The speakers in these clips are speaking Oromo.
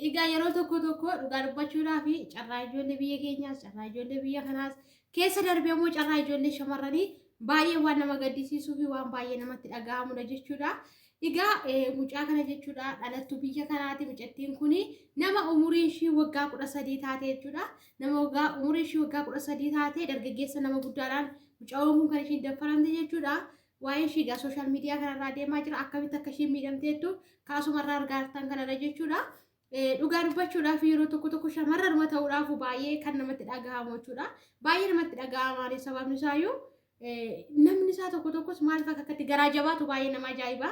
Egaa yeroo tokko tokko dhugaa dubbachuudhaaf carraa ijoollee biyya keenyaas carraa ijoollee biyya kanaas keessa darbee immoo carraa ijoollee shamarranii baay'ee waan nama gaddisiisuu fi waan baay'ee namatti dhaga'amudha jechuudha. Egaa mucaa kana jechuudha dhalattuu biyya kanaati mucattiin kun nama umuriin ishii waggaa kudha sadii taate jechuudha. Nama waggaa umuriin ishii waggaa kudha sadii taate dargaggeessa nama guddaadhaan mucaan kun kan ishiin daffaramte jechuudha. Waa'een ishii egaa social media kanarraa deemaa jira. Akkamitti akka ishiin miidhamteettu kaasumarraa argaa jirtan kanadha jechuudha. Eh, Dhugaa dubbachuudhaaf yeroo tokko tokko shamarranuma ta'uudhaaf baay'ee kan namatti dhagahamu jechuudha. Baay'ee namatti dhagahamaani sababni isaayyuu eh, namni isaa tokko tokkos maaliif akka akkatti garaa jabaatu baay'ee nama ajaa'iba.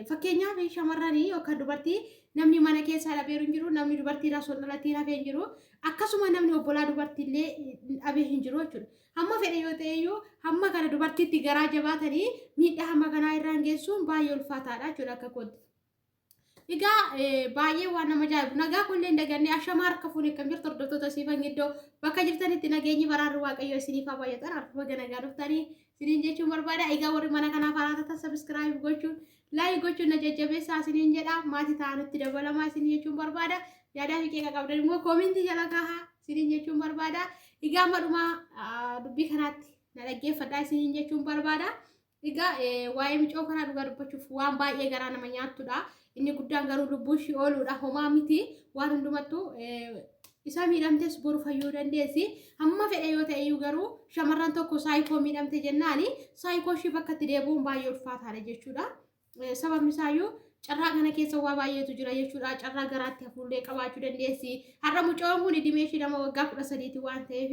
Fakkeenyaaf shamarranii yookaan dubartii namni mana keessaa dhabeeru hin jiru, namni dubartii irraa osoo dhalatee hafee hin jiru, akkasuma namni obbolaa dubartii illee dhabee hin jiru jechuudha. Hamma fedhe yoo ta'e iyyuu hamma kana dubartiitti garaa jabaatanii miidhaa hamma kanaa irraan geessuun baay'ee ulfaataadha jechuudha akka kootti. Egaa baay'ee waan nama jaa'ibu nagaa kunillee hin daganne ashamaa harka fuunee kan jirtu hordoftoota siifan giddoo bakka jirtanitti nageenyi baraarri waaqayyoo isiniif haa baay'atan harka baga nagaa dhuftanii Isiniin jechuun barbaada. Egaa warri mana kanaaf haaraa taatan sabiskiraayib gochuun laayik gochuun na jajjabeessaa isiniin jedha. Maatii ta'aa nutti dabalamaa isiniin jechuun barbaada. Yaadaa fi qeeqa qabdan immoo koomintii jala kahaa isiniin jechuun barbaada. Egaa amma dhuma dubbii kanaatti na dhaggeeffadhaa isiniin jechuun barbaada. Egaa waa'ee micoo kanaa dhugaa dubbachuuf waan baay'ee garaa nama nyaattudha. Inni guddaan garuu lubbuu ishii ooluudha. Homaa miti waan hundumattuu isaa miidhamtes boru fayyuu dandeessi. Hamma fedhe yoo ta'e iyyuu garuu shamarran tokko saayikoo miidhamte jennaani saayikoo ishii bakka itti deebi'uun baay'ee ulfaataadha jechuudha. Sababni isaayyuu carraa kana keessa waa baay'eetu jira jechuudha. Carraa garaatti hafuullee qabaachuu dandeessi. Har'a mucaan kun dhimee ishii nama waggaa kudha sadiiti waan ta'eef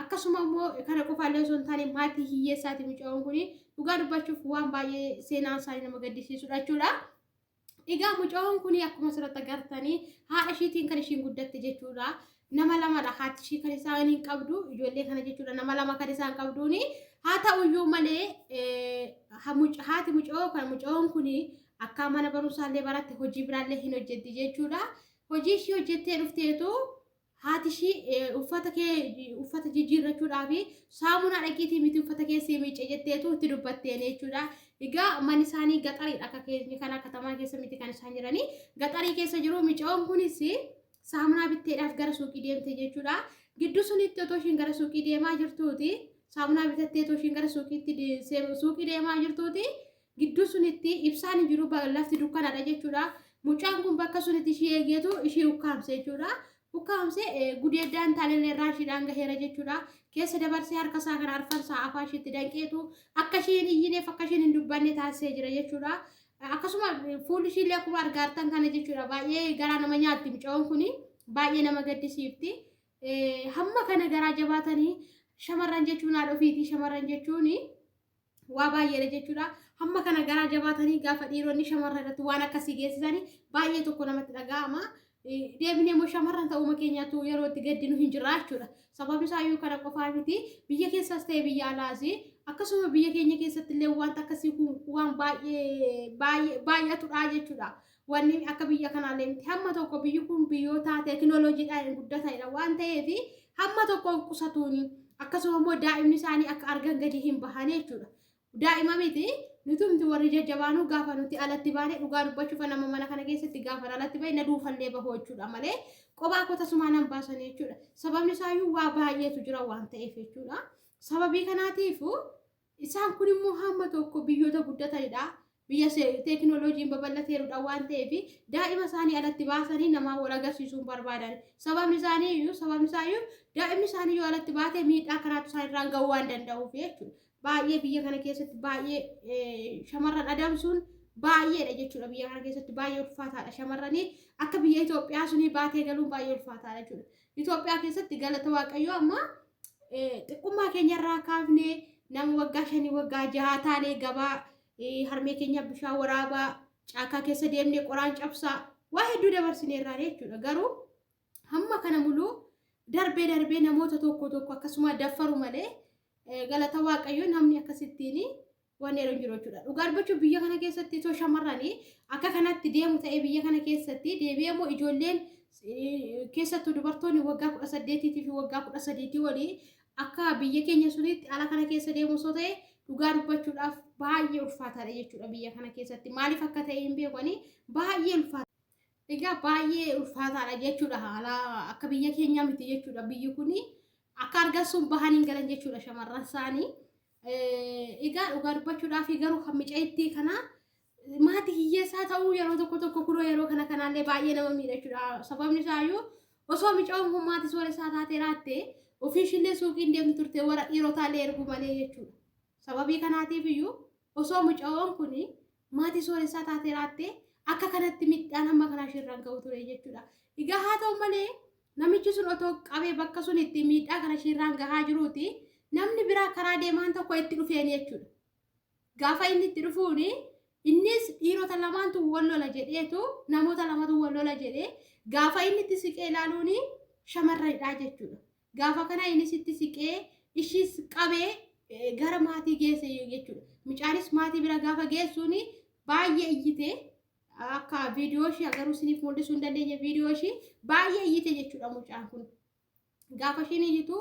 akkasuma immoo kana qofaallee osoo hin taane maatii hiyyeessaati mucaan kun Dhugaa dubbachuuf waan baay'ee seenaan isaanii nama gaddisiisudha jechuudha. Egaa mucaan kun akkuma asirratti agartanii haadha ishiitiin kan ishiin guddatte jechuudha. Nama lamadha haati ishii kan isaan hin qabdu ijoollee kana jechuudha nama lama kan isaan qabduuni. Haa ta'uyyuu malee eh, ha- muc- haati mucoo kan mucoon kun akka mana barumsaallee baratte hojii biraallee hin hojjetti jechuudha. Hojii ishii hojjettee dhufteetu haati ishii eh, uffata kee uffata jijjiirrachuudhaaf saamunaa dhaqiitii miti uffata kee sii miicce jetteetu itti dubbatteen jechuudha. Egaa manni isaanii gaxariidha akka keenya kana katamaa keessa miti kan isaan jiranii gaxarii keessa jiru micoon kunis saamunaa bitteedhaaf gara suuqii deemte jechuudha. Gidduu sunitti otoo ishiin gara suuqii deemaa jirtuuti saamunaa bitattee otoo ishiin gara suuqiitti de- seem- suuqii deemaa jirtuuti Gidduu sunitti ibsaan hin jiru lafti dukkanaadha jechuudha. Mucaan kun bakka sunitti ishii eegeetu ishii ukkaamse jechuudha. Ukkaamse gudeeddaan taalillee irraa ishiidhaan gaheera jechuudha. Keessa dabarsee harka isaa kana arfansaa afaa ishiitti danqeetu akka ishii hin iyyineef akka ishiin hin dubbanne taasisee jira jechuudha. Akkasuma fuulli ishiillee akkuma argaartan kana jechuudha. Baay'ee garaa nama nyaatti mucaan kun baay'ee nama gaddisiifti. Hamma kana garaa jabaatanii shamarran jechuun haadha ofiitii shamarran jechuun waa baay'eedha jechuudha. Hamma kana garaa jabaatanii gaafa dhiironni shamarran irratti waan akkasii geessisanii baay'ee tokko namatti dhaga'ama. Deebinee immoo shamarran ta'uuma keenyaatu yeroo itti gaddinu hin jirra jechuudha. Sababni isaa iyyuu kana qofaa miti biyya keessaas ta'e biyya alaas akkasuma biyya keenya keessatti illee wanta akkasii kun waan baay'ee baay'ee baay'atudha jechuudha. Wanni akka biyya kanaallee miti. Hamma tokko biyyi kun biyyoota teekinooloojiidhaan guddatanidha waan ta'eef hamma tokkoof qusatuuni. Akkasuma immoo daa'imni isaanii akka argan gadi hin bahane jechuudha. Daa'ima miti nutumti warri jajjabaanuu gaafa nuti alatti baane dhugaa dubbachuuf nama mana kana keessatti gaafa alatti bahe na duufallee bahoo jechuudha malee qophaa koo tasumaa nan baasan jechuudha. Sababni isaayyuu waa baay'eetu jira waan ta'eef jechuudha. Sababii kanaatiifuu Isaan kun immoo hamma tokko biyyoota guddatanidha. Biyya teekinooloojiin babal'ateerudha waan ta'eef daa'ima isaanii alatti baasanii namaa wal agarsiisuun barbaadan. Sababni isaanii iyyuu sababni isaa iyyuu daa'imni isaanii yoo alatti baate miidhaa kanaatu isaan irraan ga'uu waan danda'uuf jechuudha. Baay'ee biyya kana keessatti baay'ee shamarran adamsuun baay'eedha jechuudha. Biyya kana keessatti baay'ee ulfaataadha shamarranii akka biyya Itoophiyaa sunii baatee galuun baay'ee ulfaataadha jechuudha. Itoophiyaa keessatti galata waaqayyoo amma xiqqummaa keenyarraa kaafnee nama waggaa shanii waggaa jahaa taanee gabaa harmee keenya bishaan waraabaa caakaa keessa deemnee qoraan cabsaa waa hedduu dabarsineerraa jechuudha garuu hamma kana muluu darbee darbee namoota tokko tokko akkasuma daffaru malee galata waaqayyoo namni akkasittiin Waan yeroo jiru jechuudha. Dhugaa dubbachuuf biyya kana keessatti osoo shamarranii akka kanatti deemu ta'ee biyya kana keessatti deebi'ee immoo ijoolleen keessattuu dubartoonni waggaa kudha saddeetiitii fi waggaa kudha sadiitii olii akka biyya keenya sunitti ala kana keessa deemu osoo ta'e dhugaa dubbachuudhaaf baay'ee ulfaataadha jechuudha biyya kana keessatti maaliif akka ta'e hin beekani baay'ee ulfaata. Egaa baay'ee ulfaataadha jechuudha haala akka biyya keenyaa miti jechuudha biyyi kuni akka argan sun bahan hin galan jechuudha shamarran isaanii. Egaa dhugaa dubbachuudhaaf garuu kan micayittii kana maatii hiyyeessaa ta'uu yeroo tokko tokko kunoo yeroo kana kanaallee baay'ee nama miidhachuudha. Sababni isaayyuu osoo mica'oon kun maatii sooressaa taatee raatte ofiishillee suuqiin deemtu turte warra dhiirotaallee ergu malee jechuudha. Sababii kanaatiif iyyuu osoo mica'oon kun Maatii sooressaa taatee raattee akka kanatti midhaan hamma kanaa isheerraan ga'u ture jechuudha. Egaa haa ta'u malee namichi sun otoo qabee bakka sun itti miidhaa kana isheerraan gahaa jiruuti namni biraa karaa deemaan tokko itti dhufeen jechuudha. Gaafa inni itti dhufuun innis dhiirota lamaantu wal lola jedheetu namoota lamatu wal lola jedhee gaafa inni itti siqee ilaaluun shamarranidha jechuudha. Gaafa kana innis itti siqee ishiis qabee eh, gara maatii geesse jechuudha. Mucaanis maatii bira gaafa geessuun baay'ee iyyite akka viidiyoo ishii agaruu isiniif mul'isuu hin dandeenye viidiyoo ishii baay'ee iyyite jechuudha mucaan kun. Gaafa ishiin iyyitu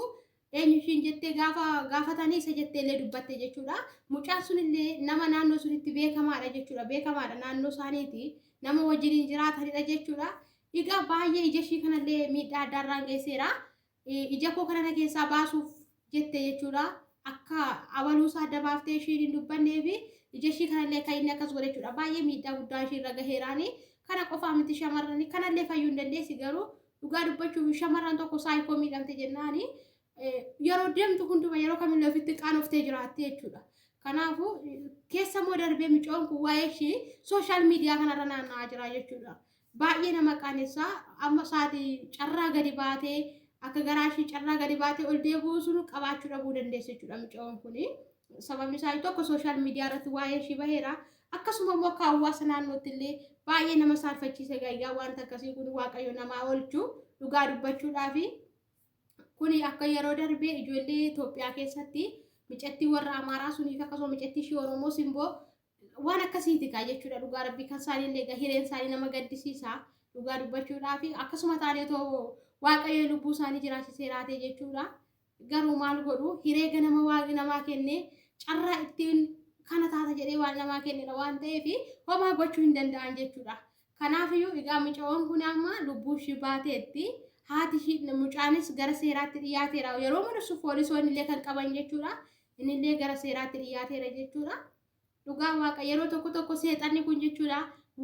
eenyu ishiin jettee gaafa gaafatanii isa jettee illee dubbatte jechuudha. Mucaan sun illee nama naannoo sunitti beekamaadha jechuudha. Beekamaadha naannoo isaaniiti. Nama wajjin hin jiraatanidha jechuudha. Dhigaa baay'ee ija ishii kanallee miidhaa addaa irraan geesseera. Ija koo kanana keessaa baasuuf jette jechuudha. Akka abaluusaa adda baaftee ishiin hin dubbannee fi ija ishii kanallee kan inni akkas godhe jechuudha. Baay'ee miidhaa guddaa ishii irra gaheeraani. Kana qofaa miti shamarrani kanallee fayyuu hin dandeessi garuu dhugaa dubbachuuf shamarran tokko saayikoo miidhamte jennaani yeroo deemtu hunduma yeroo kamillee ofitti qaanoftee jiraatte jechuudha. Kanaafuu keessa immoo darbee micoon kun waa'ee ishii sooshaal miidiyaa kanarra naanna'aa jira jechuudha. Baay'ee nama qaanessa. Amma isaati carraa gadi baatee akka garaa ishii carraa gadi baatee ol deebi'uu sun qabaachuu dhabuu dandeessi jechuudha mucayoon kun. Sababni isaa tokko sooshaal miidiyaa irratti waa'ee ishii baheera. Akkasuma immoo akka hawaasa naannootti illee baay'ee nama saalfachiise gayyaa wanta akkasii kun waaqayyo namaa oolchu dhugaa dubbachuudhaafi. Kuni akka yeroo darbee ijoollee Itoophiyaa keessatti micattii warra Amaaraa suniif akkasuma micattii ishii Oromoo simboo Waan akkasiiti kaa jechuudha dhugaa rabbii kan isaanii illee egaa hireen isaanii nama gaddisiisa dhugaa dubbachuudhaa fi akkasuma taanee too waaqayyo lubbuu isaanii jiraachisee laatee jechuudha garuu maal godhu hiree ganama waaqni namaa kenne carraa ittiin kana taata jedhee waan namaa kennedha waan ta'eef homaa gochuu hin danda'an jechuudha kanaafiyyuu egaa mucawwan kun amma lubbuu ishii baateetti haati ishii mucaanis gara seeraatti dhiyaateera yeroo mul'isu poolisoonni illee kan qaban jechuudha Innillee gara seeraatti dhiyaateera jechuudha. Dhugaa waaqa yeroo tokko tokko seexanni kun jechuudha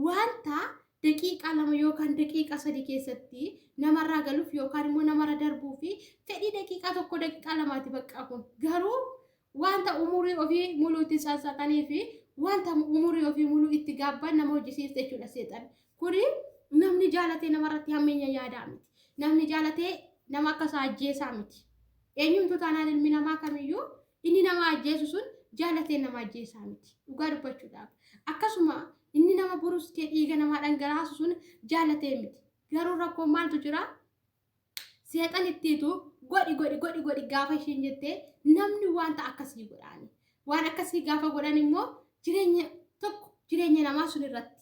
wanta daqiiqaa lama yookaan daqiiqaa sadii keessatti namarraa galuuf yookaan immoo namarra darbuu fi fedhii daqiiqaa tokko daqiiqaa lamaati baqqaa kun garuu wanta umurii ofii muluu itti sansaqanii fi wanta umurii ofii muluu itti gaabban nama hojjisiifte jechuudha seexanni. Kuni namni jaalatee namarratti hammeenya yaadaa miti. Namni jaalatee nama akka isaa ajjeesaa miti. Eenyumtuu taanaan ilmi namaa kamiyyuu inni nama ajjeesu sun jaalatee nama ajjeesaa miti. Dhugaa dubbachuudhaaf. Akkasuma inni nama buruskee dhiiga namaa dhangalaasu sun jaalatee miti. Garuu rakkoon maaltu jira? Seexan ittiitu godhi godhi godhi godhi gaafa ishiin jettee namni wanta akkasii godhaani. Waan akkasii gaafa godhan immoo jireenya tokko jireenya namaa sun irratti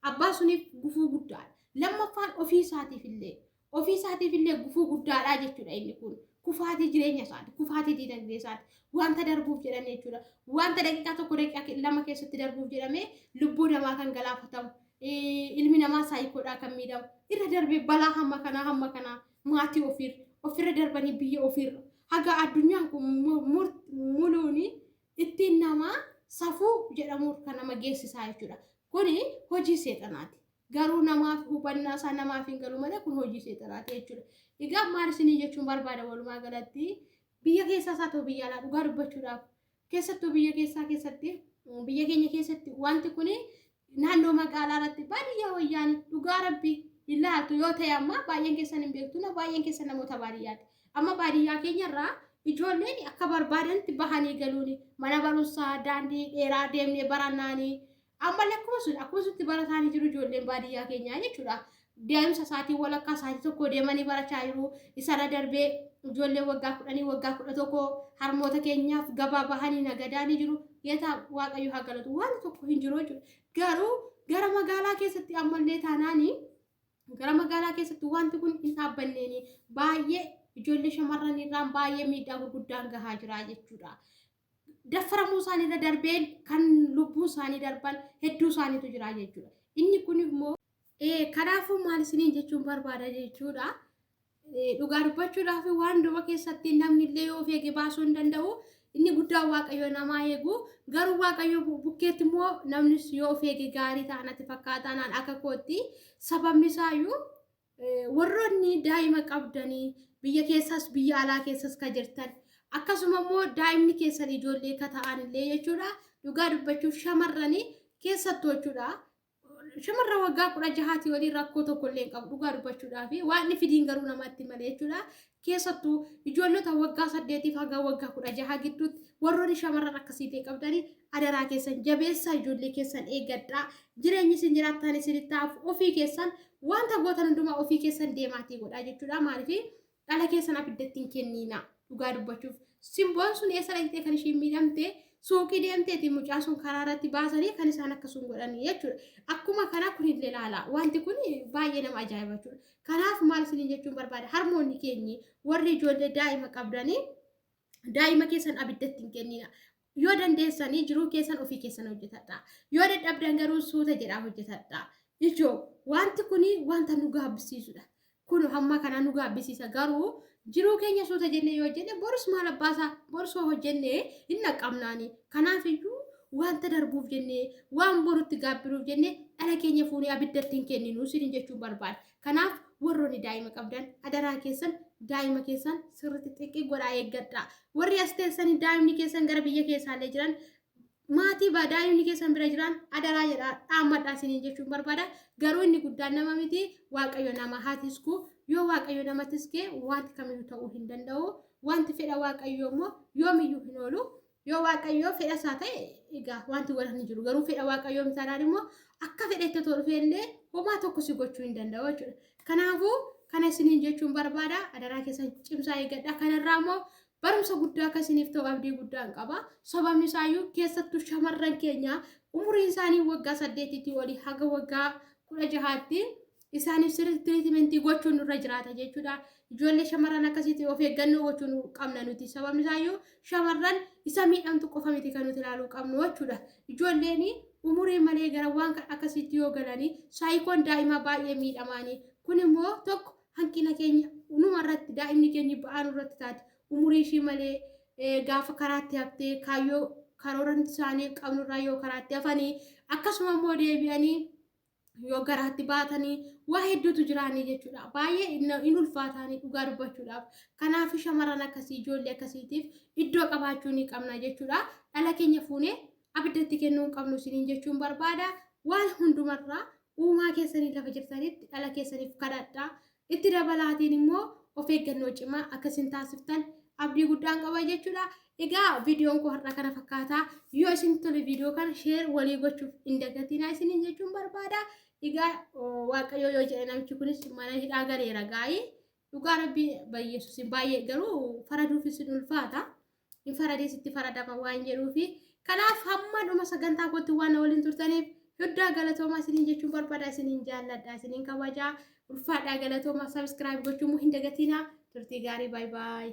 Abbaa suniif gufuu guddaadha. Lammaffaan ofii isaatiif illee ofii isaatiif illee gufuu guddaadhaa jechuudha inni kun. Kufaatii jireenya isaati, kufaatii diinagdee isaati, wanta darbuuf jedhan jechuudha. Wanta daqiiqaa tokko daqiiqaa lama keessatti darbuuf jedhamee lubbuu namaa kan galaafatamu, ilmi namaa saayikoodhaa kan miidhamu, irra darbee balaa hamma kanaa hamma kanaa maatii ofiirra, ofirra darbanii biyya ofiirra. Haga addunyaan kun muluuni ittiin nama safuu jedhamuuf kan nama geessisaa jechuudha. Kuni hojii seexanaati. Garuu namaaf hubannaa isaa namaaf hin galu malee kun hojii seexanaati jechuudha. Egaa maal isinii jechuun barbaada walumaa galatti biyya keessaa isaa ta'u biyya alaa dhugaa dubbachuudhaaf keessattuu biyya keessaa keessatti biyya keenya keessatti wanti kuni naannoo magaalaa irratti baadiyyaa wayyaan dhugaa rabbi hin laaltu yoo ta'e amma baay'een keessan hin beektu na baay'een keessan namoota baadiyyaati amma baadiyyaa keenya irraa ijoolleen akka barbaadanitti bahanii galuuni mana barumsaa daandii dheeraa deemnee barannaanii amma lakkuma sun akkuma sutti barataanii jiru ijoolleen baadiyyaa keenyaa jechuudha deemsa isaatiin walakkaa isaatii tokko deemanii barachaa jiru. Isarra darbee ijoollee waggaa kudhanii waggaa kudha tokko harmoota keenyaaf gabaa bahanii nagadaa ni jiru. Geetaa Waaqayyo haa galatu waan tokko hin jiru jechuudha. Garuu gara magaalaa keessatti ammallee taanaanii gara magaalaa keessatti wanti kun hin dhaabbanneeni baay'ee ijoollee shamarran irraan baay'ee miidhaa gurguddaan gahaa jira jechuudha. Daffaramuu isaanii irra darbeen kan lubbuu isaanii darban hedduu isaaniitu jira jechuudha. Inni kun immoo Ee, kanaafuu maal isiniin jechuun barbaada jechuudha. Ee, Dhugaa dubbachuudhaaf waan duba keessatti namni illee yoo of eege baasuu hin danda'u. Inni guddaan Waaqayyo namaa eegu. Garuu Waaqayyo bu- bukkeetti immoo namnis yoo of eege gaarii ta'a natti fakkaata naan akka kootti. Sababni isaayyuu ee, warroonni daa'ima qabdanii biyya keessaas biyya alaa keessaas ka jirtan akkasuma immoo daa'imni keessan ijoollee ka ta'an illee jechuudha. Dhugaa dubbachuuf shamarranii keessattuu jechuudha. shamarra waggaa kudha jahaati waliin rakkoo tokko illee qabu dhugaa dubbachuudhaa fi waan inni fidiin garuu namatti malee jechuudha. Keessattuu ijoollota waggaa saddeetiif haga waggaa kudha jahaa gidduutti warroonni shamarran akkasii ta'e qabdanii adaraa keessan jabeessaa ijoollee keessan eeggadhaa jireenyi isin jiraattan isinitti hafu ofii keessan wanta gootan hundumaa ofii keessan deemaatii godhaa jechuudha maaliif Dhala keessan abiddatti hin kenniina. Dhugaa dubbachuuf simboon sun eessa dhaqxee kan ishiin miidhamte suuqii deemteeti mucaa sun karaa irratti baasanii kan isaan akkasuma godhanii jechuudha. Akkuma kana kun illee ilaala. Wanti kun baay'ee nama ajaa'iba jechuudha. Kanaaf maal isiniin jechuun barbaada harmoonni keenyi warri ijoollee daa'ima qabdanii daa'ima keessan abiddatti hin kenniina. Yoo dandeessanii jiruu keessan ofii keessan hojjetadha. Yoo dadhabdan garuu suuta jedhaa hojjetadha. Ijoo wanti kun wanta nu gaabbisiisudha. Kun hamma kanaa nu gaabbisiisa garuu jiruu keenya suuta jennee yoo hojjenne borus maal abbaasaa borsoo hojjennee hin dhaqqabnaani. Kanaafiyyuu wanta darbuuf jennee waan borutti gaabbiruuf jennee dhala keenya fuunee abiddatti hin kenninu sinin jechuun barbaada. Kanaaf warroonni daa'ima qabdan adaraa keessan daa'ima keessan sirriitti xiqqii godhaa eeggadhaa. Warri as teessanii daa'imni keessan gara biyya keessaallee jiran maatii baa daa'imni keessan bira jiran adaraa jedhaa dhaammadhaa isiniin jechuun barbaada. Garuu inni guddaan nama miti waaqayyo nama haa tisku yoo waaqayyo nama tiskee wanti kamiyyuu ta'uu hin danda'u. Wanti fedha waaqayyoo immoo yoomiyyuu hin oolu. Yoo Waaqayyoo fedha isaa ta'e egaa wanti wal hin jiru. Garuu fedha Waaqayyoo hin taanaan immoo akka fedhetti otoo dhufee illee homaa tokko si gochuu hin danda'u jechuudha. Kanaafuu kana isiniin jechuun barbaada. Adaraa keessan cimsaa eeggadha. Kanarraa immoo barumsa guddaa akka isiniif ta'u abdii guddaan qaba. Sababni isaayyuu keessattuu shamarran keenya umuriin isaanii waggaa saddeetiitii olii haga waggaa kudha jahaatti isaaniif sirriitti tiriitimentii gochuun nurra jiraata jechuudha. Ijoollee shamarran akkasitti of eeggannoo gochuun qabna nuti. Sababni isaayyuu shamarran isa miidhamtu qofa miti kan nuti ilaaluu qabnu jechuudha. Ijoolleen umurii malee gara waan akkasitti yoo galanii saayikoon daa'imaa baay'ee miidhamaanii. Kun immoo tokko hanqina keenya numa irratti daa'imni keenya ba'aan irratti taate umurii ishii malee eh, gaafa karaatti haftee kaayyoo karooran isaanii qabnurraa yoo karaatti hafanii akkasuma immoo deebi'anii yoo garaatti baatanii waa hedduutu jiraanii jechuudha. Baay'ee hin ulfaataanii dhugaa dubbachuudhaaf. Kanaaf shamarran akkasii ijoollee akkasiitiif iddoo qabaachuu ni qabna jechuudha. Dhala keenya fuunee abiddatti kennuu hin qabnu isiniin jechuun barbaada. Waan hundumarraa uumaa keessanii lafa jirtanitti dhala keessaniif kadhadhaa. Itti dabalaatiin immoo of eeggannoo cimaa akka isin taasiftan abdii guddaan qaba jechuudha. Egaa viidiyoon koo har'a kana fakkaata. Yoo isin tole viidiyoo kana sheer walii gochuuf hin dagatinaa isiniin jechuun barbaada. Egaa waaqayyoo yoo jedhe namichi kunis mana hidhaa galeera gaa'ii. Dhugaa rabbii bayyeessusin baay'ee garuu faraduufis hin ulfaata. hin faradin sitti faradama waan jedhuufi kanaaf hamma dhuma sagantaa kootti waan na waliin turtaniif Huddaa galatoomaa isiniin jechuun barbaada isiniin jaalladha isiniin kabajaa ulfaadhaa galatoomaa sabiskiraayib gochuun hin dagatiinaa turtii gaarii baay baay.